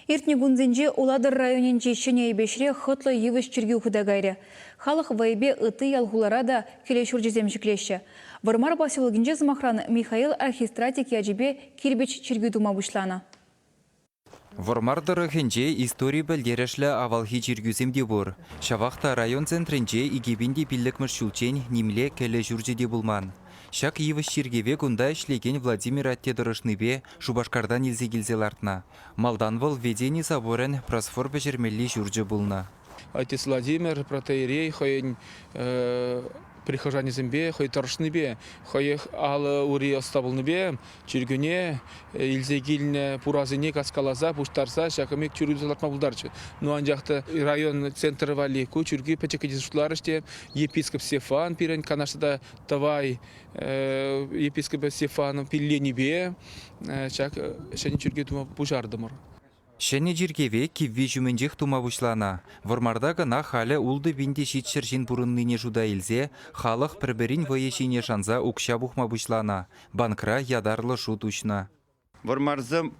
Иртнӗ кунсенче Улатӑр районӗнчи Ҫӗнӗ Эйпеҫре хӑтлӑ йывӑҫ чиркӳ хута кайрӗ. Халӑх вӑйӗпе ытти ял-хулара та киле ҫурчӗсем ҫӗклеҫҫӗ. Вӑрмар поселокӗнче, сӑмахран, Михаил архистратик ячӗпе кирпӗч чиркӳ тума пуҫланӑ. Вӑрмар тӑрӑхӗнче истори пӗлтерӗшлӗ авалхи чиркӳсем те пур. Ҫавах та район центрӗнче икӗ пин те пиллӗкмӗш ҫулччен нимле кӗлӗ ҫурчӗ те пулман. Ҫак йывӑҫ чиркӗве кунта ӗҫлекен Владимир атте тӑрӑшнипе Шупашкартан илсе килсе лартнӑ. Малтан вӑл Ведени соборӗн просфор пӗҫермелли ҫурчӗ пулнӑ. Отец Владимир протеерей хӑйӗн прихожанӗсемпе хӑй тӑрӑшнипе, хӑех алӑ-ури ӑста пулнипе чиркӳне илсе килнӗ пурасене каскаласа, пуҫтарса ҫакӑн пек чир уйӑрса лартма пултарчӗ. Ну, анчах та район центрӗ валли ку чиркӳ пӗчӗккӗн шутларӗҫ те, епископ Стефан пирӗн канашра та Тӑвай епископа Стефанов пилленипе ҫак ҫӗнӗ чиркӳ тума пуҫартӑмӑр. Ҫӗнӗ чиркӗве кивви ҫумӗнчех тума пуҫланӑ. Вӑрмарта кӑна халӗ ултӑ пин те ҫичҫӗр ҫын пурӑннине шута илсе халӑх пӗр-пӗрин вӑйӗ ҫине шанса укҫа пухма пуҫланӑ, банкра ятарлӑ шут уҫнӑ. Вӑрмарсем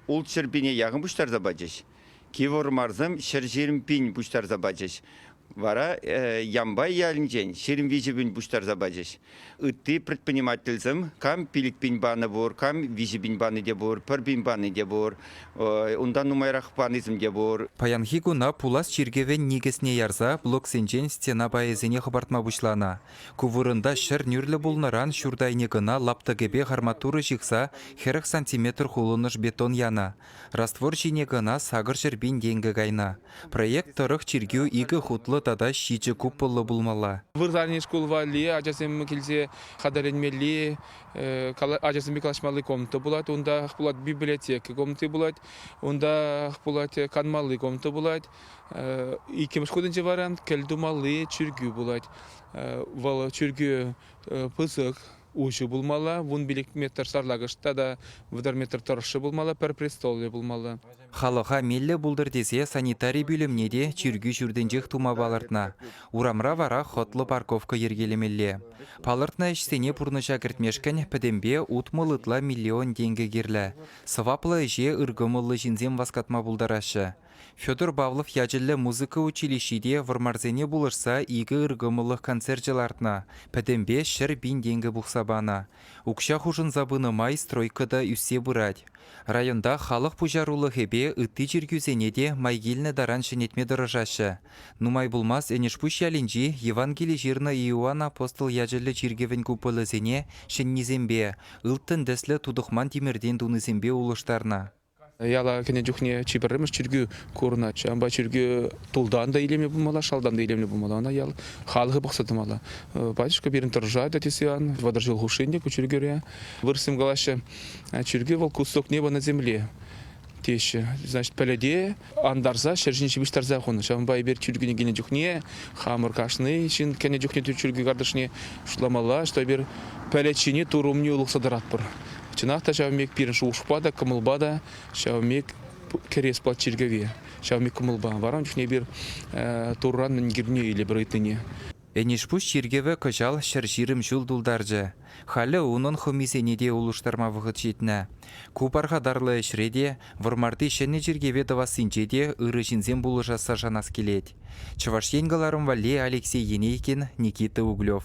ултҫӗр пине яхӑн пуҫтарса пачӗҫ. Киввӑрмарсем ҫӗр ҫирӗм пин пуҫтарса пачӗҫ. Вара Ямбай ялӗнчен ҫирӗм виҫӗ пин пуҫтарса пачӗҫ. Ытти предпринимательсем кам пилӗк пин панӑ пур, кам виҫӗ пин пани те пур, пӗр пин пани те пур, унтан нумайрах панисем те пур. Паянхи куна пулас чиркӗвӗн никӗсне ярса блоксенчен стена пайӗсене хӑпартма пуҫланӑ. Ку вырӑнта ҫӗр нӳрлӗ пулнӑран ҫурт айне кӑна лаптӑкӗпех арматура ҫыхса хӗрӗх сантиметр хулӑнӑш бетон янӑ. Раствор ҫине кӑна сакӑр ҫӗр пин тенкӗ кайнӑ. Проект тӑрӑх чиркӳ икӗ хутлӑ тата ҫичӗ купӑллӑ пулмалла. Вырсарни шкул валли ачасем килсе хатӗрленмелли, ачасемпе калаҫмалли комната пулать. Унтах пулать библиотека комнати пулать. Унтах пулать канмалли комната пулать. Иккӗмӗш хутӗнче варан кӗлтумалли чиркӳ пулать. Вӑл чиркӳ пысӑк, уҫӑ пулмалла, вун пилӗк метр сарлакӑш тата вӑтӑр метр тӑршшӗ пулмалла, пӗр престоллӗ пулмалла. Халӑха меллӗ пултӑр тесе санитари пӳлӗмне те чиркӳ ҫуртӗнчех тума палӑртнӑ. Урамра вара хӑтлӑ парковка йӗркелемелле. Палӑртнӑ ӗҫсене пурнӑҫа кӗртмешкӗн пӗтӗмпе утмӑл ытла миллион тенкӗ кирлӗ. Сӑваплӑ ӗҫе ыркӑмӑллӑ ҫынсем васкатма пултараҫҫӗ. Федор Павлов ячӗллӗ музыка училищи те вӑрмарсене пулӑшса икӗ ыркӑмӑллӑх концерчӗ лартнӑ, пӗтӗмпе ҫӗр пин тенкӗ пухса панӑ. Укҫа хушӑнса пынӑ май стройка та ӳссе пырать. Районта халӑх пуҫарулӑхӗпе ытти чиркӳсене те май килнӗ таран ҫӗнетме тӑрӑшаҫҫӗ. Нумай пулмасть Энӗшпуҫ ялӗнчи Евангели ҫырнӑ Иоанн апостол ячӗллӗ чиркӗвӗн куполӗсене ҫӗннисемпе, ылтӑн тӗслӗ тутӑхман тимӗртен тунисемпе улӑштарнӑ. Яла кӗнӗ чухне чи пӗрремӗш чиркӳ курӑнать. Ҫавӑнпа чиркӳ тултан та илемлӗ пулмалла, шалтан та илемлӗ пулмалла. Ӑна ял халӑхӗ пӑхса тӑмалла. Батюшка пирӗн тӑрӑшать, тесе Иоанн вӑтӑр ҫул хушшин те ку чиркӳре. Вырӑссем калаҫҫӗ, чиркӳ вӑл кустук небо на земле теҫҫӗ. Значит, пӗлӗте антарса ҫӗр ҫине ҫыпӑҫтарса хунӑ. Ҫавӑнпа эпир чиркӳне килнӗ чухне хамӑр кашни ҫын кӗнӗ чухне чиркӳ картишне шутламалла, что эпир пӗлӗт тыр умне улӑхса тӑратпӑр. Чӑнах та ҫавӑн пек пирӗн шухӑшпа та, кӑмӑлпа та ҫавӑн пек кӗрес пулать чиркӗве. Ҫавӑн пек кӑмӑлпа. Вара ун чухне эпир Турран мӗн килне илӗпӗр ыйтнине. Энӗшпуҫ чиркӗвӗ кӑҫал ҫӗр ҫирӗм ҫул тултарчӗ. Халӗ унӑн хӑмисене те улӑштарма вӑхӑт ҫитнӗ. Ку пархатарлӑ ӗҫре те, Вӑрмарти ҫӗнӗ чиркӗве тӑвассинче те ырӑ ҫынсем пулӑшасса шанас килет. Чӑваш Ен кӑларӑм валли Алексей Енейкин, Никита Углев.